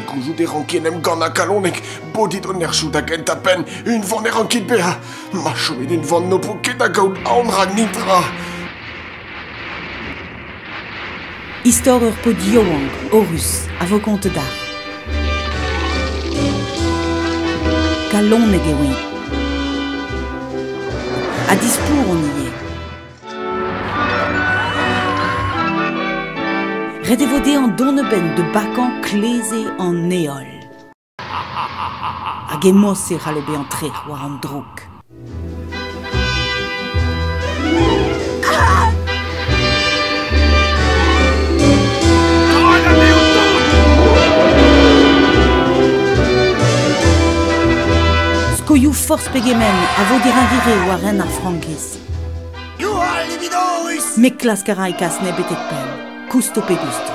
gouzout e rank en em gana kalonek Bodit o nerchou da genta penn Unvan e rankit beza Ma chomet unvan n'o po ket da gaout aon rag nitra Istor ur paotr yaouank, Horus, a vo kontet da. Kalonek eo-eñ. Ha displour on ivez. Ret e vo dezhañ dont a-benn da bakañ kleze an heol. Hag emañ-se c'hallo bezañ trec'h war an droug. Skoioù forzh pegement a vo dirañvire war ren ar frankiz. Youhal, Lividorus! Met klask a ra e kas nebetet pell. Koust ho pegus-ta.